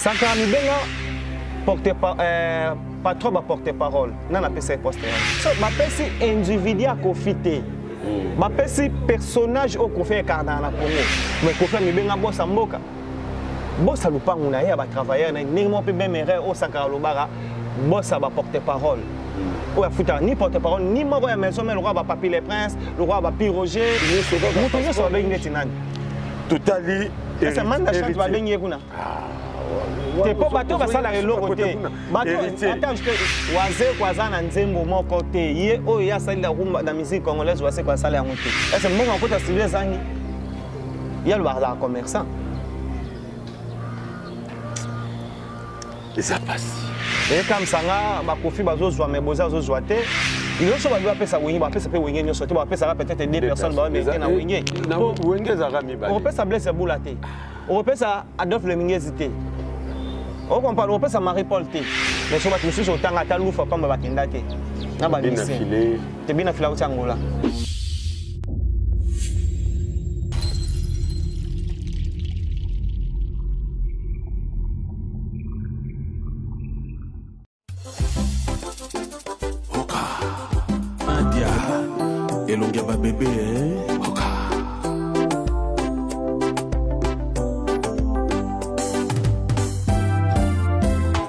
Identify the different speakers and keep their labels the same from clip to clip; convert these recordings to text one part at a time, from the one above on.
Speaker 1: sankara mibenga porte euh, patron baporte parole nga napesa ye poste so bapesi individu ya kofi te hmm. bapesi personnage oyo kofi ekardana na congo mais kofi ya mibenga bosa mboka bosa lupangu na ye ya batravailleur na ye ndenge moko mpe meme erreur oyo sankara alobaka bosa baporte parole hmm. oyo afutaka ni porte parole ni moko ya maison mai lokola bapapi le prince lokola bapi roger moto nyonso babengi ndeti nani totali
Speaker 2: manda
Speaker 1: chante babengi ye kuna ah, te mpo bato basalaka eloko te wazeko aza na nzembo moko te ye oyo ye asali na miziki congolaise waseko asala yango te ese mbongo akota studio ezangi ye aloba azalaka commerçant
Speaker 2: eza pasi ekamisa
Speaker 1: nga bakofi bazozwa me boza azozwa te nyonso babi bapesa wenge bapesa mpe wenge nyonso te bapesaka peut-être deux personnes bawa meke na wenge wenge ezalaka
Speaker 2: mibale okopesa blaise bula
Speaker 1: te okopesa adolphe lemingezi te okomprendre okopesa marie paul te mais so bato mosusu otanga ata lufa pamba bakenda te na bamisi te bina fila uti angola
Speaker 3: elongi ya babebe eh?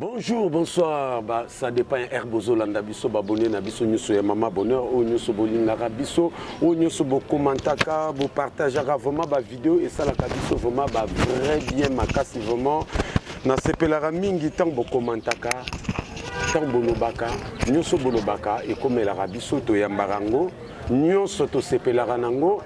Speaker 2: Bonjour, bonsoir, bah, ça dépend ya air bozolanda biso babone na biso nyonso ya mama bonheur oyo nyonso bolingaka biso oyo nyonso bokomantaka bopartageaka vraiment bavideo esalaka biso vraiment ba vrai bien makasi vraiment nasepelaka mingi ntango bokomantaka ntango bolobaka nyonso bolobaka ekomelaka biso toyambaka yango nyonso tosepelaka na yango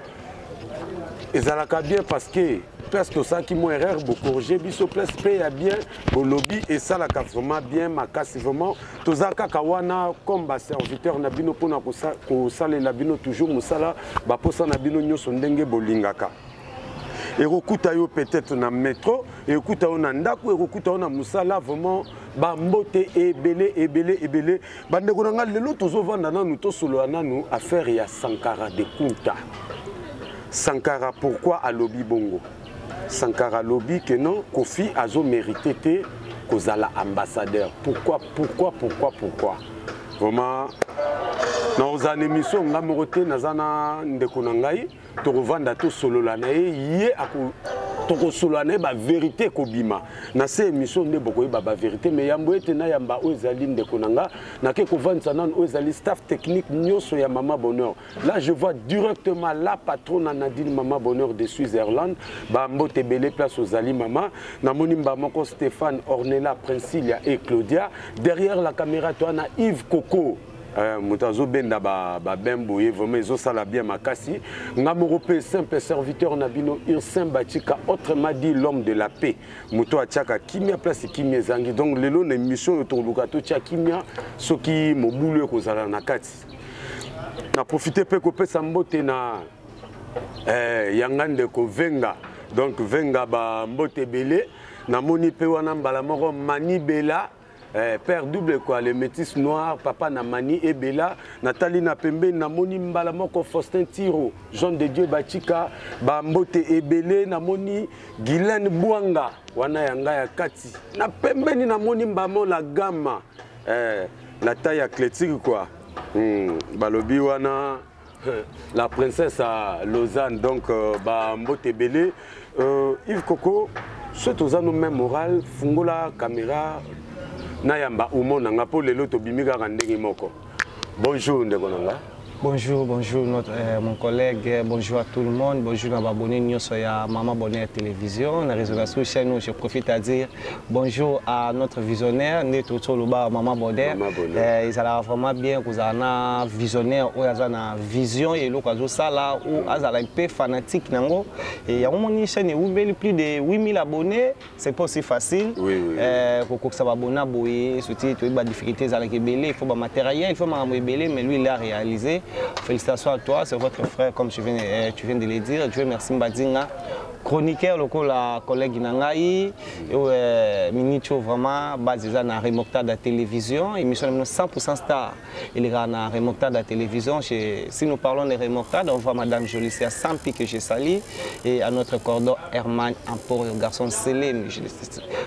Speaker 2: ezalaka bien parce que place tosalaki mwa erreur bocorrige biso place mpe ya bien bolobi esalaka vraiment bien makasi vraiment toza kaka wana comme baserviteur na bino mpona kosalela bino toujours mosala baposa na bino nyonso ndenge bolingaka ekokuta yo peut-être na metro ekokuta yo na ndako ekokuta yo na mosala vraiment bambote ebele ebele ebele bandeko na ngai lelo tozovanda nanu tosolola nanu affaire ya sankara de kunta sankara pourquoi alobi bongo sankara alobi ke non kofi azomérite te kozala ambassadeur pourquoi pourquoi pourquoi pourquoi vraiment nakozala na émission ngai moko te naza na ndeko na ngai tokovanda tosolola na ye ye ako tokosolola na ye baverité ekobima na se émission nde bokoyeba baverité mais yambo ete nayamba oyo ezali ndeko na nga nake kovandisa nano oyo ezali staff technique nyonso ya mama bonheur là je vois directement la patrona nadine mama bonheur de switzerland bambote ebele place ozali mama namoni mba moko stéphane ornela princilia et claudia derrière la caméra toana yves coco Euh, moto azobenda babin boye vraiment ezosala bien makasi nga moko mpe simple serviteur na bino ursin batika autrement dit l'homme de la paix moto atiaka kimia place kimia ezangi donc lelo na émission oyo tokoluka totya kimia soki mobulu ekozala na kati na profite mpe kopesa mbote na eh, yanga ndeko venga donc venga bambote ebele namoni mpe wana mbala moko manibela Eh, père double quoi le métis noir papa na mani ebela natali na pembeni namoni mbala moko faustin tiro jean de dieu bachika bambote ebele namoni guilaine bwanga wana ya ngai ya kati na pembeni namoni mbamo la gama eh, na tai ya cletique quoi hmm, balobi wana la princesse à lausanne donc euh, bambote ebele euh, ive koko soki toza no même moral fungola caméra nayamba umo na nga mpo lelo tobimi kaka ndenge moko bonjour ndeko na nga Bonjour, bonjour
Speaker 1: notre, euh, mon collègue, euh, bonjour à tout le monde, bonjour à Baboni Nyoso et à Maman Bonheur Télévision. La résolution chez nous, je profite à dire Bonjour à notre visionnaire nde tozo loba maman Boder eh, ezalaka vraiment bien kozala na visionnaire oyo aza na vision ya eloko azosala ou azala mpe fanatique na yango yango moni chaîne ewumeli plus de 8000 abonnés c'est pas aussi facile eh, kokokisa babona boye soki toyebi badifficulté ezalaka ebele il faut bamatériel il faut makambo ebele mais lui il a réalisé félicitations à toi c'est votre frère comme tu viens, eh, tu viens de le dire dieu merci mbadinga chroniqueur lokola collègue na ngai euh, minicho vraiment base eza na remontada ya télévision émission na bino 100 star elekaka na remontada ya télévision si nous parlons de remontada on voit madame jolicia sampi que je sali et à notre cordon herman emporio garçon selem je,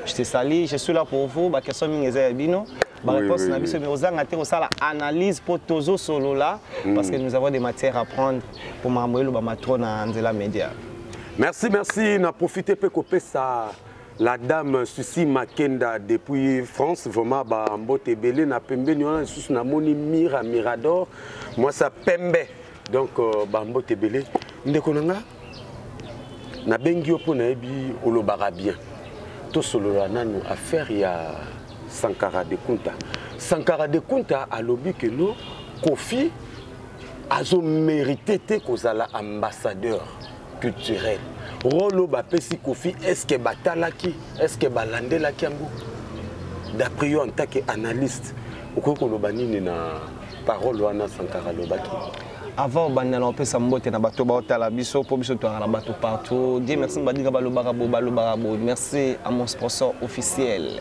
Speaker 1: je te sali je suis là pour vous baquestion mingi eza ya bino bareponse na biso mais ozanga te kosala analyse mpo tozosolola mm. parce que nous avons des matières à prendre mpo makambo elobama trop na nzela media merci merci
Speaker 2: na profite mpe kopesa la dame susi makenda depuis france vraiment bambote ebele na pembeni wana lisusu namoni mira mirador mwasi ya pembe donc euh, bambote ebele ndeko na nga nabengi yo mpo nayebi olobaka bien tosolola nanu affaire ya sankara de kunta sankara de kunta alobi ke no kofi azo merite te kozala ambassadeur culturel role oyo bapesi kofi estce batalaki estce balandelaki yango d'après yo en tant que analyste okoki koloba nini na parole wana sankara alobaki avant obanda
Speaker 1: na opesa mbote na bato baotala biso mpo biso toyaka na bato partout die merci badika balobaka bo balobaka bo merci à mon sponsor officiel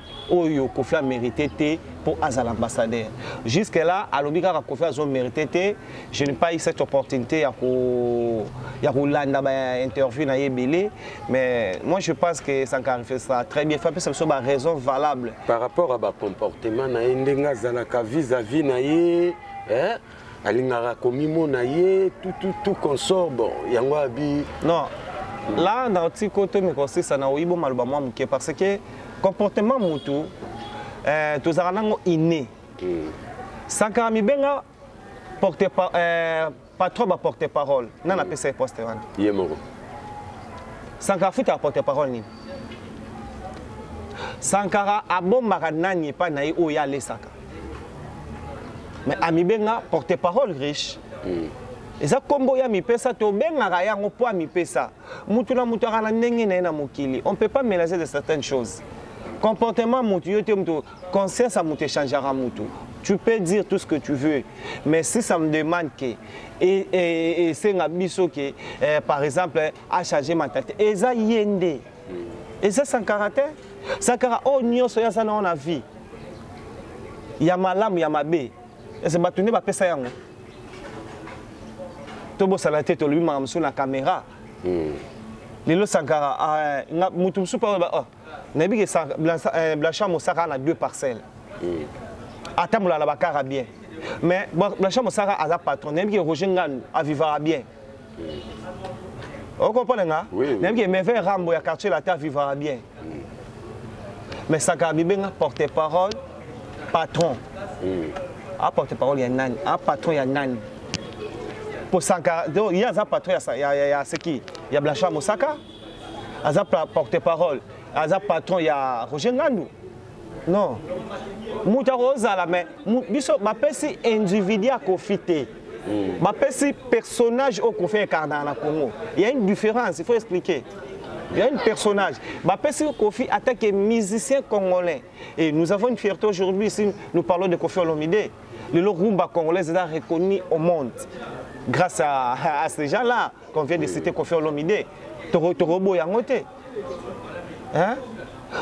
Speaker 1: oyo kofi amérite te mpo azala ambassadeur jusque là alobi kaka kofi azo mérite te je n'ai pas eu cette opportunité ya kolanda bainterview na ye ebele mais moi je pense que sankari fait ça très bien fapesa biso baraison valable par rapport à
Speaker 2: bacomportement na ye ndenge azalaka vis à vis na ye alingaka komimona ye tututu consort bon yango abi non
Speaker 1: la na otiko to mikosisa na oyibo maloba mwa moke parce que comportement mutu eh, tozalaka nango inné hmm. sankara mibenga porte pa, eh, patron baporte parole na napesa ye poste wana ye moko sankara futa aporte parole nini sankara abombaka nani epai na ye oyo ye alesaka mais amibenga porte parole riche mm. eza nkombo ya mipesa tobengaka yango mpo ya mipesa motu na motu aka na ndenge na ye na mokili on peut pas mélanger de certaines choses comportement motu yo te motu conscience ya motu echangaka motu tu peux dire tout ce que tu veux mais si ça me demande que esenga biso ke eh, par exemple a changer mentalité eza ye nde eza sankara te sankara oyo nyonso ye aza na wana vie ya malamu ya mabe ese bato nde bapesa yango tobosana te tolobi makambo mosusu na kamera hmm. lelo sankara ah, motu mosusu mpe oyo oh, nayebi ke eh, blanchard mosaka na deux parcelles hmm. atambola na bakara bien mais blanchard mosaka aza patron nayebi ke roger nganu avivaka bien okomprendre nga nayebi ke meve rambo ya quartier latin vivra bien mais saka abibenga porte parole patron a porte parole ya nani a patron ya nani po sankara donc ye aza patron ya seki ya blanchard mosaka aza porte parole aza patron ya roger ngandu non moto akozala me biso bapesi individu ya kofi te mm. bapesi personnage oyo kofi ekardaka na congo il y a une différence il faut expliquer il y a une personnage bapesi kofi ata ke musicien congolais et nous avons une fierté aujourd'hui si nous parlons de kofi olomide lelo rumba congolaise eza reconnu au monde grâce à, à ces gens là qu'on vient de citer kofi olomide toroboya yango te hein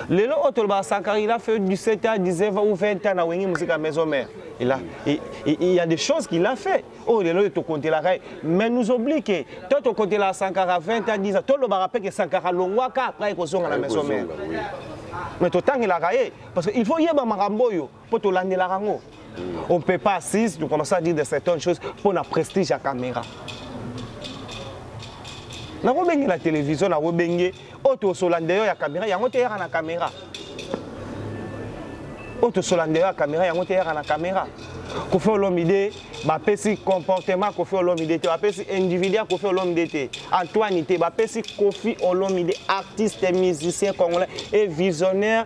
Speaker 1: lelo oyo tolobaka sankara il a fait du 7 à 19 ou 20 ans na wenge mosika ya maison mère il, a, il, il y a des choses qu'il a fait oyo oh, lelo oyo tokontelaka ye mais nous oblie ke to tokontelaka sankara 20 à 10 ans tolobaka mpe ke sankara alongwaka après ekozonga na maison mère mais totangelaka ye parce que il faut yeba makambo oyo mpo tolandelaka yango on peut pas assise de commencer à dire de certaines choses mpo na prestige ya caméra nakobenge na télévision nakobenge oyo tosola ndeyo ya caméra yango te eyaka na caméra oyo tosola ndeyo ya caméra yango te eyaka na caméra kofi olomide bapesi comportement kofi olomide te bapesi individu ya kofi olomide te antoine te bapesi kofi olomide artiste musicien congolais et visionnaire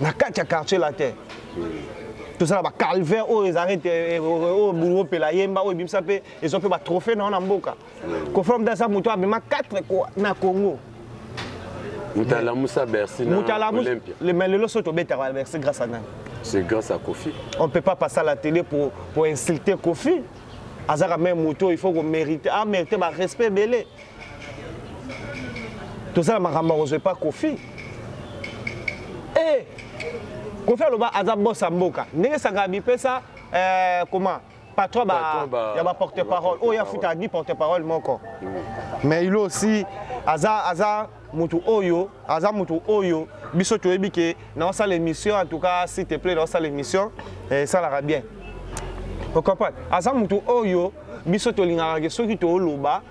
Speaker 1: na kati ya quartier latin tozala bacalvin oyo ezalaki te eh, eh, oyo bulu opela yemba oyo ebimisa mpe ezwa mpe batrophée na yo na mboka kofra mda aza moto abima 4 na congo
Speaker 2: mutalamusa bercy na olympia mais lelo soki tobetaka
Speaker 1: bercy grâce à nani c'est grâce à kofi
Speaker 2: on peut pas passer à la
Speaker 1: télé pour, pour insulter kofi azaka meme moto il faut komérite amérite barespect ebele toza na makambo ya kozwa epa kofi e kofi aloba aza bos ya mboka ndenge sangana bipesa eh, koma patron ba, ba, ya baporte parole oyo afuta ni porte parole moko mais ilo aussi aza aza motu oyo aza motu oyo biso toyebi ke naosala émission en tout cas s'il te plaît naosala émission eh, esalaka bien ocomprendre aza motu oyo biso tolingaka ke soki tooloba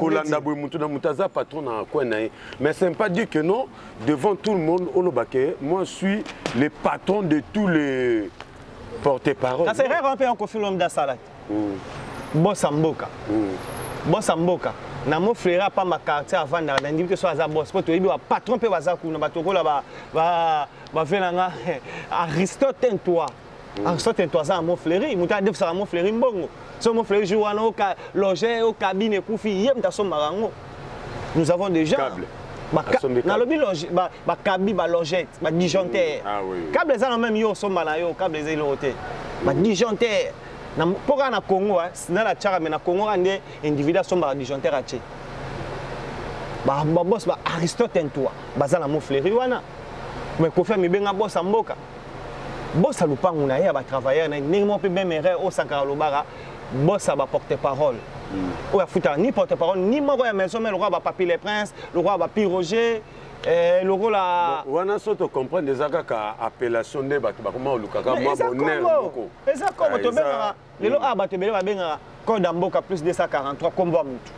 Speaker 1: kolanda boye motu na motu aza patron na coin na ye mais c'est
Speaker 2: pas dire que non devant tout le monde oloba ke moi suis le patron de tous les porte parole kasi erreur mpe
Speaker 1: yankofi lomde asalaki hmm. bosa mboka hmm. bosa mboka na mo fleire apamba quartier avandaka na ndimi te so aza bos mpo toyebi bapatron mpe baza kuna bato okola bavela nga aristote toi Mm. En sorte toi ça mon fleri, muta def ça mon fleri mbongo. So mon fleri jour wana oka loger au cabine kufi yem ta so marango. Nous avons déjà câble. Ba na lobi loge ba ba kabi ba logette, ba disjoncteur. Mm. Ah oui. Câble ça même yo so mala yo, câble ça lo te. Ba disjoncteur. Na poka na Congo, hein, na la tchara mais na Congo ande individu so mala disjoncteur ache. Ba ba boss ba Aristote toi, bazana mon fleri wana. Mais ko faire mi benga boss mboka. bosa lupangu na ye ya ba travailleurs na ndenge moko pe même erreur au sankara lobaka bosa ba porte parole hmm. oyo afutaka ni porte parole ni moko ya maison mais lokola ba papi le prince lokola ba pi roger Eh, lokola wana so tocomprendre
Speaker 2: eza kaka appellation nde bato bakoma olukaka mwa bonere moko eza komo tobengaka
Speaker 1: lelo awa bato ebele babengaka code ya mboka plus 243 kombo ya motu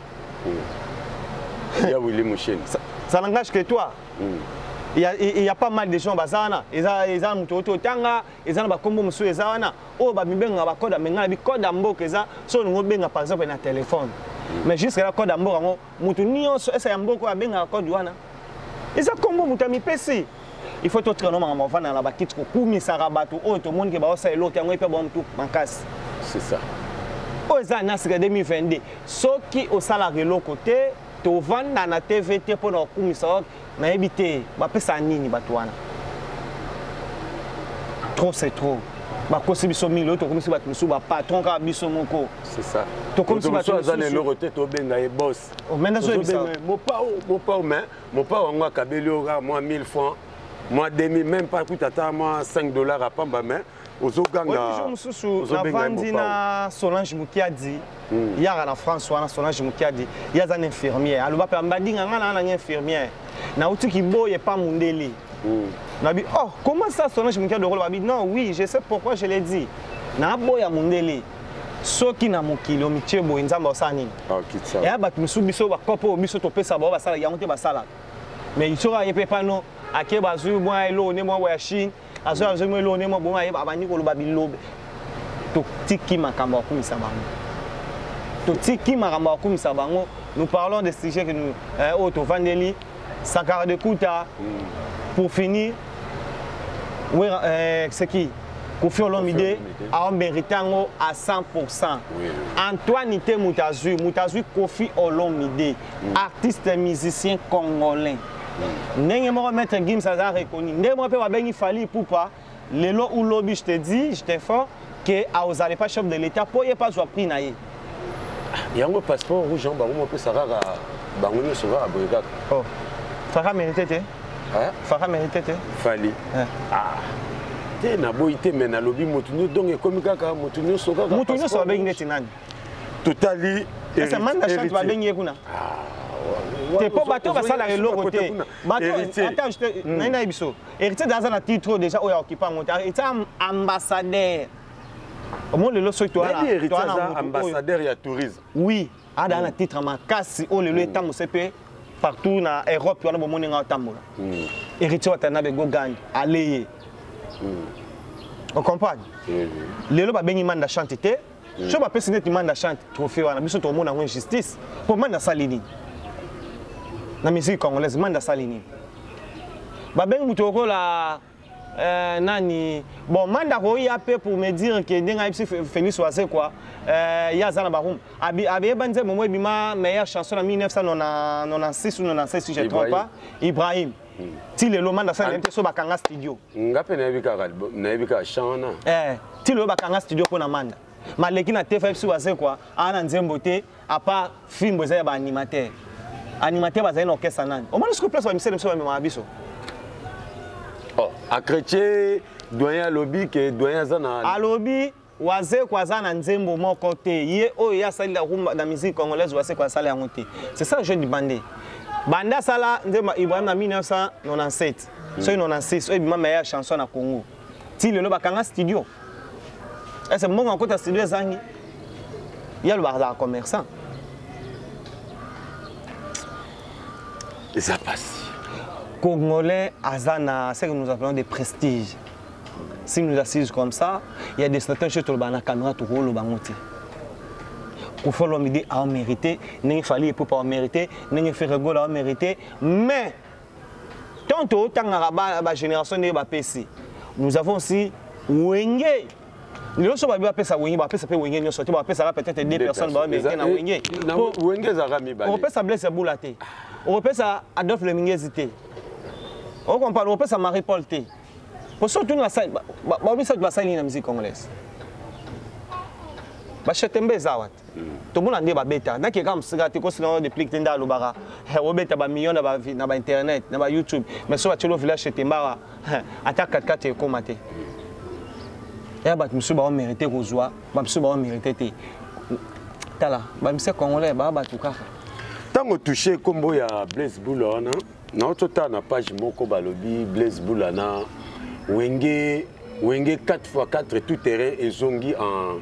Speaker 2: ya wili musheni ça n'engage que
Speaker 1: toi il y, a, il y a pas mal de gens baza wana eza eza moto oyo totanga eza na bakombo mosusu eza wana oyo bamibengaka bakoda menga na bikoda mboka eza so olingi obenga par exemple na telefone mais jusque la koda mboka yango mutu nionso esa ya mboko oyo abengaka code wana eza nkombo moto amipesi il faut totika no makambo avanda na bakiti kokumisaka bato oyo tomoni ke baosala eloko yango epe bamutu makasi c'est ça oyo eza na
Speaker 2: sika
Speaker 1: 2022 soki osalaka eloko te tovanda na tv te mpo na kokumisa nayebi te bapesa nini bato wana trop c'est trop bakosi biso mingi oyo tokomisi bato mosusu bapatron kaka biso moko
Speaker 2: tokomisi bato aza
Speaker 1: na eloko te tobenga
Speaker 2: ye bos mopao
Speaker 1: mopao
Speaker 2: mais mopao yango akabeli oyo kaka mwa 1000 francs mwa demi même pas kuta ata mwa 5 dollars apamba mais ozogangajour mosusu
Speaker 1: navandi na solange mukiadi hmm. yaka na france wana solange mukiadi ye aza na infirmière aloba mpe mbadinga ngai naa nanga infirmière nauti kiboye pa mundele hmm. nabi oh comment ça solange mukiadi okoloba bi non oui je sais pourquoi je l'ai dit naaboya mundele soki na mokili omitie boye nzambe osala nini ah, eya bato mosusu biso bakopo oyo biso topesa bao basala yango te basalaka mais soki aye mpe pano ake bazwi mwa eloko nde mwa ya chine azoya azomi eloko ndenge moko boye abandi koloba bilobe totiki makambo ya kokumisa bango totiki makambo ya kokumisa bango nous parlons des sujets que nous eh, oyo tovandeli sankara de kuta mm. pour finir wera eh, c'est qui kofi olomide aomérite yango à 100 antoine te moto azwi moto azwi kofi olomide artiste musicien congolais ndenge moko maître gims aza reconnu ndenge moko mpe babengi fali ipupa lelo ou lobi je te dis je te fort ke aozala pas chef de l'état mpo ye mpe azwa prix na ye
Speaker 2: yango passeport rouge yango bango mopesa kaka bango nyonso kaka boye kaka oh.
Speaker 1: faka merite te faka merite te fali
Speaker 2: ah. te naboyi te me nalobi motu nyonso donc ekomi kaka motu nyonso kaka motu nyonso babengi neti
Speaker 1: nani totali
Speaker 2: esa man na
Speaker 1: chante ba bengi kuna ah, te po bato basala eloko te bato ata je te hmm. na ina biso héritier daza na titre déjà oyo occupant ngo te héritier ambassadeur omoni lelo soki toana ambassadeur ya
Speaker 2: tourisme oui ada hmm. na
Speaker 1: titre makasi oyo lelo hmm. etambuse mpe partout na europe wana bomoni nga otambola héritier watana bego gandi aleye ocomprendre lelo babengi manda chante te mm. so bapesi neti manda chante trophée wana biso tokomona yango injustice mpo manda asali nini na musique congolaise manda asali nini babengi moto lokola euh, nani bon manda akoya mpe pour me dire ke ndenge ayebisi félix wazekwa euh, ye aza na barum abeyeba nzembo mo ebima meilleure chanson na 1996 ou 96 si je trompe pas ibrahim hmm. ti lelo manda sala nayebi te so bakanga studio nga mpe nayebi kaka
Speaker 2: nayebi kaka chan wana eh, ti lelo
Speaker 1: bakanga studio mpo na manda maleki na tefa biso bazekwa aa na nzembo te apart filme eza ya baanimateur animateur bazali na orchestre nani omoni soki place bamisele biso bamemaka biso
Speaker 2: oh, akretie doyen alobi ke doyen aza na alobi
Speaker 1: Wazekwa aza na nzembo moko te ye oyo ye asali la rumba na musique congolaise Wazekwa asala yango te c'est ça je demande banda asala nzembo Ibrahim na 1997 mm. soki 96 oyo ebima meilleure chanson na Congo ti lelo bakanga studio ese mbongo akota studio ezangi ye alobaka azala commerçant
Speaker 2: eza pasi congolais
Speaker 1: aza na ce que nous appelons de prestige si nous assise comme ça il y a des certaines choses tolobaka na caméra tokoloba yango te kofi olomide aomérité ndenge fali epope aomérité ndenge ferregola aomérité mais tant totangaka bagénération ndenge bapesi nous avons aussi wenge lelo so babi bapesa wenge bapesa mpe wenge nyonso te bapesaka peut-être deux personnes baomerite na wenge wenge ezalaka
Speaker 2: mibale okopesa blaise ya bula
Speaker 1: te okopesa adolphe lemingezi te okompane okopesa marie paul te po so otuni bango misato basali nini na musique congolaise bashetembe eza wata hmm. tomona nde babeta nake kaka mosika te kosika ngo deplique te nde alobaka obeta bamillion na bainternet na bayoutube mais so batyelo village shetembe awa ata katikati ekóma te ya bato mosusu baomerite kozwa bamosusu baomerite te tala bamise congolais baa bato kaka ntango
Speaker 2: touche nkombo ya blaise bula wana naototala na page moko balobi blaise bula na wenge wenge 4 x 4 tout terrain ezongi en,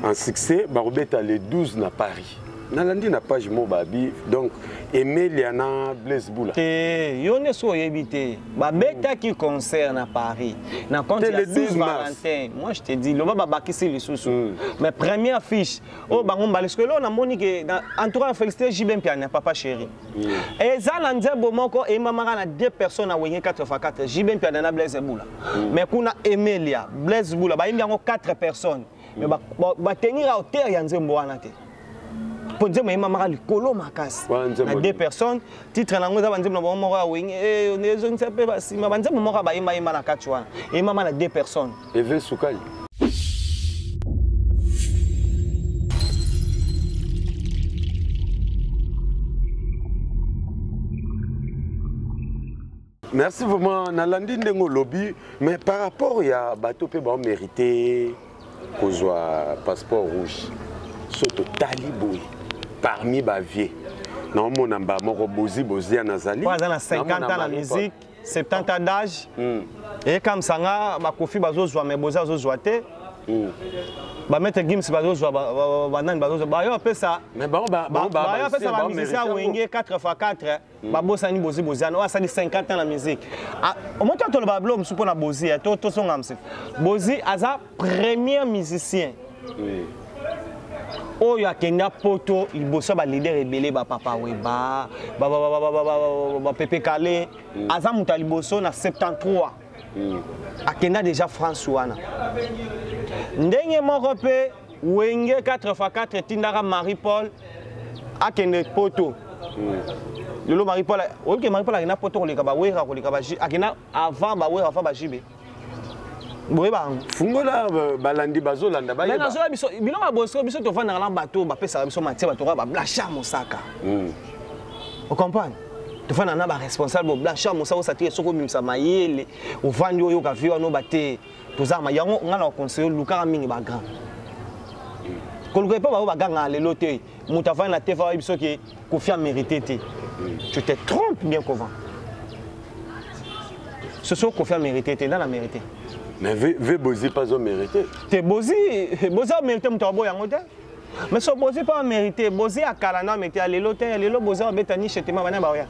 Speaker 2: en succès bakobeta le 12 na paris nalandi na page mo babi donc emelia na blaise bula te eh, yo nde soki
Speaker 1: oyebi te babetaki concert na paris na compte ya 6 valentin moi je te dis loba babakisi lisusu mm. mais première fiche oyo oh, bango mbala sikoyo eloo namoni ke en tout cas félicité jb mpiania papa chéri Mm. eza na nzembo moko eyembamaka na deux personnes na wenge 84 jb mpiada na blaise bula mm. mais kuna emelia blaise bula bayembi yango 4 personnes mais batenir ba, ba auteur ya nzembo wana te mpo nzembo eyembamaka likolo makasi na deux personnes titre na yango eza banzembo na bango moko ya wenge eh, ezongisa mpe basima banzembo moko ya bayembayemba na kati wana eyembama na deux personnes Eve Sukali.
Speaker 2: merci vraiment nalandi ndenge olobi mais par rapport ya bato mpe baomérite kozwa passeport rouge so totali boye parmi bavie naomona mba moko bozi boziana azali aza na 50 ans
Speaker 1: na musique 70 ans d'âge mm. eyekamisa nga bakofi bazozwa me boza azozwa te mm. bamaitre gims bazozwa banani bazozwa bayo bapesa bayo apesa bamusicien ya wenge 4 fois 4 mm. babosani bozi boziana oyo asali 50 ans na musique ah, omoto atoloba bilo mosusu mpo na bozi eh, tosonga mse bozi aza premier musicien oui. oyo akenda poto liboso ya balider ebele bapapa weba bapepe kale mm. aza moto ya liboso na 73 mm. akenda déjà france wana ndenge moko mpe wenge 4 x 4 etindaka marie paul akende poto lelo marie paul oyoki marie paul akenda poto koleka bawera koleka akenda avant bawera avant bajibe boyeba yango fungola euh,
Speaker 2: balandi bazolanda bayeba nazoya biso bino
Speaker 1: babosiko biso tovandaka na bato oyo bapesaka biso matie bato kaka bablasha mosaka hmm. ocomprendre tofandaka na baresponsable boblasha mosaka osatire soki obimisa mayele ovandi oyoka vi wana oba te toza ma yango ngai na baconseille olukaka mingi bagrand koluka epa baoyo bagangaka lelo te moto avandi na tefa oyebi soki kofi amérité te tu te trompe bien kovan soso kofi amérité te nda na mérité mais ve
Speaker 2: bozi pas omérité te bozi
Speaker 1: bozi amérité moto aboya yango te mais so bozi mpe amérité bozi ya kala na amérité ya lelo te ya lelo bozi abeta nishe tema bana baoya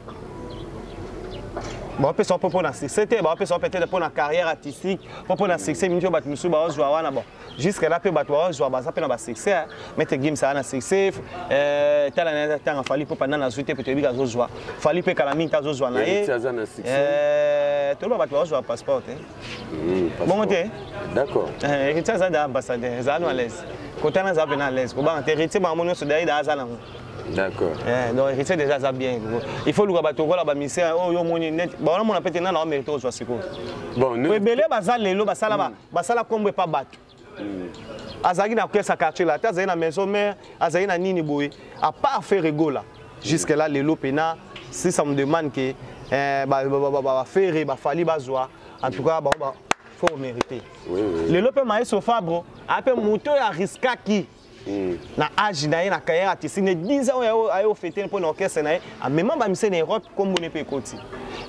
Speaker 1: bapesa mpo mpo na succès te bapesa mpe te mpo na carrière artistique mpo mpo na succès mingi oyo bato mosusu baozwa wana bon jusque là mpe bato bazwa baza mpe na basuccès hein. maître gims aza na succès euh, tala na ntanga fali mpo panda nazwi te mpe toyebi azozwa fali mpe kala mingi te azozwa na ye euh, toloba bato bazozwa passeport te hmm, bongo te d'accord
Speaker 2: euh, héritier aza da
Speaker 1: ambassadeur ezala no alaise kotana aza mpe na alaise kobanga te héritier bango nyonso dai da aza nango D'accord. Eh,
Speaker 2: donc héritier déjà
Speaker 1: ça bien. Il faut luka bato kola ba misère oh yo moni net. Ba on a pete na na mérite ozwa siko. Bon, nous.
Speaker 2: Ebele ba za lelo ba
Speaker 1: sala ba. basala kombo epa bato azalaki na kesa quartier la te azali na maison mère azali na nini boye à part faire egola jusque là lelo pena si ça me demande que eh, bafere bafali bazwa en tout cas bango faut mériter lelo mpe maestro fabro ape moto oyo ariskaki Mm. na age na ye na carrière artistique ne 10 ans oyo aye ofete mpo na orchestre na ye amema bamise na europe nkombo ne mpe ekoti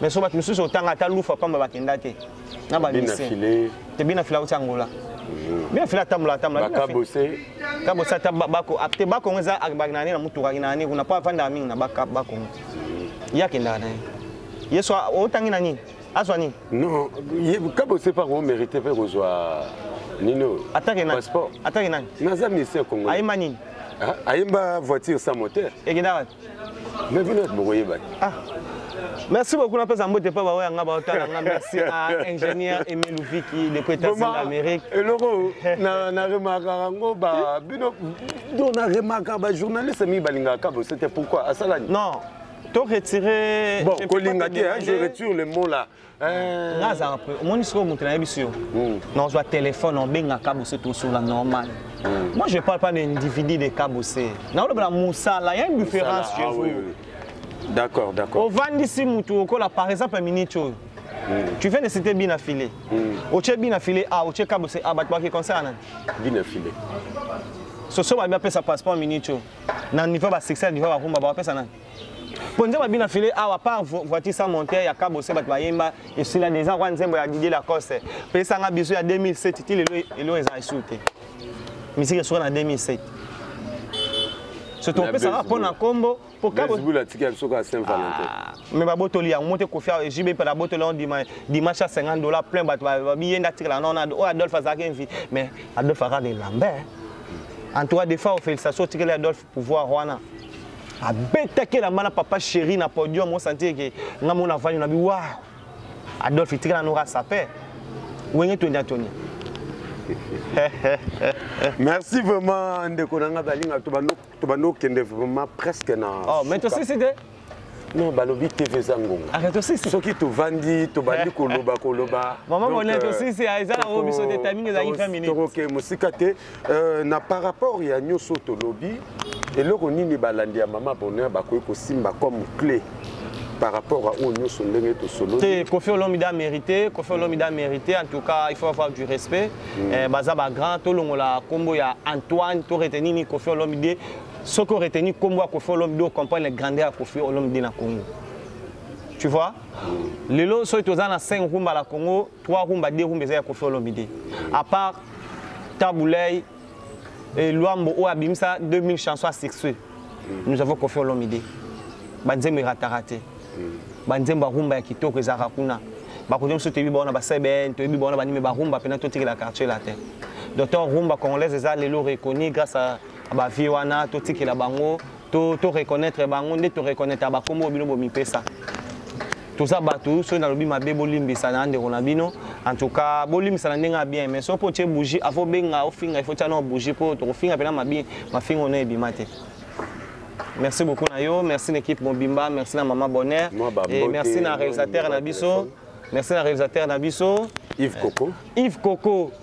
Speaker 1: mais so bato mosusu otanga ata lufa pamba bakenda te na bamise te bina fila auti angola mm. bina fila atambola atambolakabose
Speaker 2: ata
Speaker 1: bako te bakongo eza akibaki na ye na motukaki na ye kuna mpo afandaka mingi na bakongo ye akendaka na ye ye so otangi na nini azwa nini non
Speaker 2: kabo se pas omérite mpe kozwa nini oyo atake nani passeport atake nani naza
Speaker 1: ministère congo
Speaker 2: ayemba nini
Speaker 1: ah, ayemba
Speaker 2: voiture sans moteur ekenda wapi
Speaker 1: me bino ete
Speaker 2: bokoyeba te ah.
Speaker 1: merci beaucoup napesa mbote mpo baoyo yanga baotala nga merci à ingénieur emile viki de coetats-unis d'amérique eloko
Speaker 2: na remarkaka yango bino do na remarkaka bajournaliste mingi balingaka kabose te pourquoi asalani non to
Speaker 1: retirer bon kolinga te
Speaker 2: hein, je retire le mot là euh. nga azalaka
Speaker 1: pre omoni sikoyo moto nayebi si yo hmm. nazwa telefone obengaka bose tosola normal hmm. moi je parle pas d'individu de kabose naolobela mosala ya une différence chez ah vous d'accord
Speaker 2: d'accord ovandisi
Speaker 1: motu okola par exemple minute oyo Mm. Tu viens de citer Bina Filé. Mm. Oche Bina Filé, ah, Oche Kabose, ah, Batbaki, concerne. Bina Filé. soso babi apesa passeport minico na niveau ba succès diva ba kumba ba pesa nani po nzembo bina file awa par voiture sans monter ya kabo se bato bayemba esila déjà kwa nzembo ya Didier Lacoste pesa nga biso ya 2007 ti lelo elo eza esu te misiki esuka na 2007 surtout opesaka mpo na nkombo mpo kabo atiki biso ka saint
Speaker 2: valentin ah. mais babotoli
Speaker 1: yango mote kofia jb pala abotoli yango dima dimanche ya 50 dollar plein bato babiye nde atikala nao na oyo adolphe azalaki envi mais adolphe akaka elamba en tout cas de fois ofélicitation otikeli adolphe pouvoir wana abetaki elamba na papa chéri na podium osanti eke nga mona vanyo na biwa adolphe itikala noka sape wenge tondi atoni
Speaker 2: merci vraiment ndeko na ngai balinga to banoko tobandi okende vraiment presque na oh, mais tosisi te
Speaker 1: non balobi
Speaker 2: tv eza ngonga ah, soki
Speaker 1: tovandi
Speaker 2: tobandi koloba koloba
Speaker 1: tokoke mosika te
Speaker 2: euh, na par rapport ya nyonso tolobi eloko nini balandi ya mama bonheur bakoki kosimba comme clé par rapport à oyo nyonso ndenge tosolo te kofi olomide
Speaker 1: amérité kofi olomide amérité en tout cas il faut avoir du respect mm. eh, baza bagrand tolongola nkombo ya antoine to reteni nini kofi olomide soki oreteni nkombo ya kofi olomide ocomprendre grandeur ya kofi olomide na congo tu vois mm. lelo soki toza na 5 rumba la congo 3 rumba 2 rumba eza ya kofi olomide à part tabulei et Luambo oyo abimisa 2000 chansons à succès nous avons Koffi Olomide banzembo erataka te banzembo ya rumba ya kitoko ezalaka kuna bakoki mosusu toyebi baona basebn toyebi baona banime barumba mpena totikela quartier latin docteur rumba congolaise eza lelo reconi grâce à bavie wana totikela bango to to reconnaître bango nde to reconnaître ba kombo bino bo mipesa toza bato soki nalobi mabe bolimbisa na ndeko na bino en tout cas bolimbisa na ndenge ya bien mais soki mpo otie bougie afo benga ofinga ifo tia nao bougie mpo tokofinga mpena mabi mafinga ono ebima te merci beaucoup na yo merci na équipe mobimba merci na mama bonheur et merci na réalisateur na biso merci na réalisateur na biso Yves Coco
Speaker 2: Yves Coco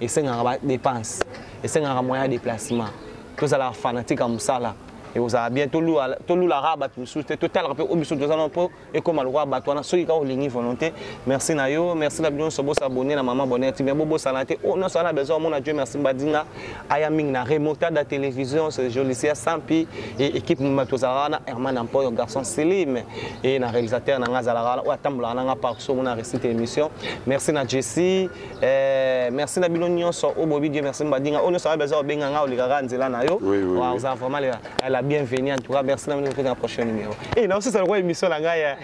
Speaker 1: esengaka ba dépense esengaka moyen ya déplacement tozalaka fanatique ya mosala ekozala bien tolulaka bato mosusu te totalaka mpe oyo biso toza nao mpo ekóma lokola bato wana soki kaka olingi volonté merci na yo merci na bino nyonso bosabone na mama bonheur tv bobosana te oyo oh, nyonso wana besoin omona dieu merci mbadinga aya mingi na remotada télévision jolicia sampi e équipe mima tozalaka wana herman ampoyo garçon silime e na réalisateur na ngai azalaka wana oyo atambolaka na ngai parc so omona récite émission merci na jessie Eh, merci na bino nyonso oyo bobi dieu merci mbadinga oyo nyonso aza obenga nga olikaka nzela na yo oza vraiment lela la bienvenue en tout cas merci na bino mpe na prochain numéro e eh, naosisa lokola émission na ngai eh.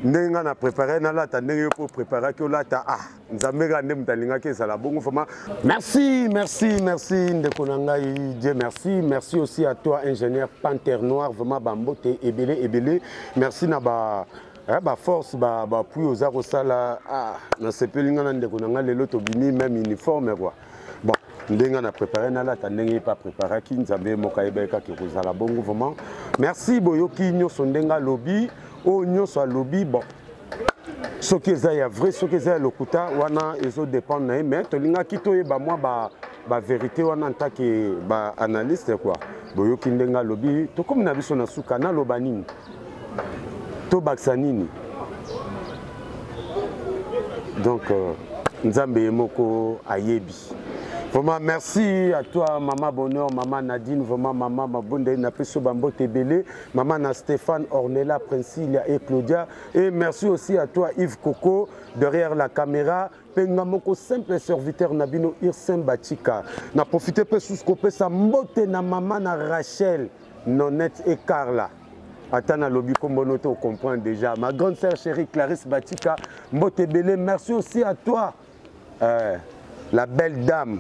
Speaker 2: ndenge ngai na prépare nalata ndenge yo mpo préparaki olata ah nzambe kaka nde moto alingaki ezala bongo vraimen merci merci merci ndeko na ngai dieu merci merci aussi à toi ingénieur panter noir vraiment bambote ebele ebele merci na ba eh, baforce bapui ba oza kosala ah, nasepeli ngai na ndeko na ngai lelo tobimi meme uniforme kua bon ndenge na prépare nalata ndenge ye mpe apreparaki nzambe ye moko ayebaki kaka ekozala bongo vraiment merci boyoki nyonso ndenge alobi oyo nyonso alobi bon soki eza ya vrai soki eza ya lokuta wana ezo dépendre na ye mais tolingaki toyeba mwa ba, ba vérité wana ntake ba analyste quoi boyoki ndenge alobi tokomi na biso na suka naloba nini tobakisa nini donc euh, nzambe ye moko ayebi vraiment merci à toi mama bonheur mama nadine vraiment mama mabondeli napesi yo bambote ebele mama na stéphane ornela princilia et claudia et merci aussi à toi yves coco derrière la caméra mpe nga moko simple serviteur na bino irsen bachika na profite mpe susu kopesa mbote na mama na rachel nonette et carla ata nalobi kombo no te ocomprendre déjà ma grande sœur chérie clarisse batika mbote ebele merci aussi à toi euh, la belle dame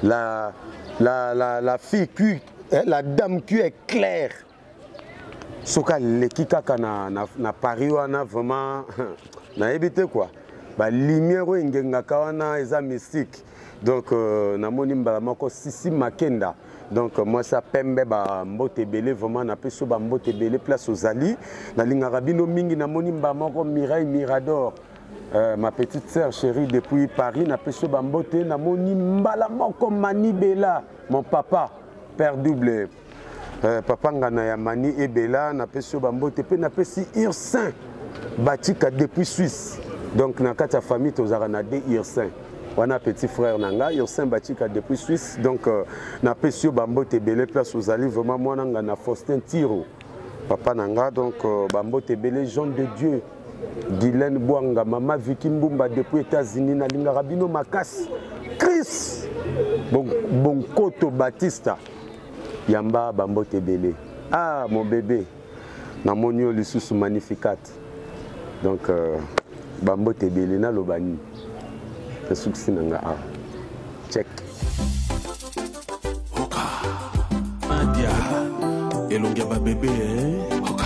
Speaker 2: la, la, la, la fille qui, eh, la dame qui est claire soki aleki kaka na, na, na paris wana vraiment nayebi te quoi balumière oyo engengaka wana eza mystique donc euh, namoni mbala moko sisi makenda donc mwasi ya pembe bambote ebele vraiment napesi yo bambote ebele place ozali nalingaka bino mingi namoni mba moko mireille mirador Euh, ma petite sœur chérie depuis Paris na peso bambote na moni mbala moko mani bela mon papa père double euh, papa ngana ya mani ebela na peso bambote pe na pesi ursin batika depuis Suisse donc na kati ya famille tozalaka na de ursin wana petit frère na nga ursin bachika depuis suisse donc euh, napesi yo bambote ebele place ozali vraiment mwana nga na faustin tiro papa na nga donc euh, bambote ebele jean de dieu gilene bwanga mama viki mbumba depuis états-unis nalingaka bino makasi chris bonkoto bon batista yamba bambote ebele ah mon bebe namoni yo lisusu magnificat donc euh, bambote ebele naloba nini nasukisi na nga awa check
Speaker 3: oka adia elongi ya babebe eh? oka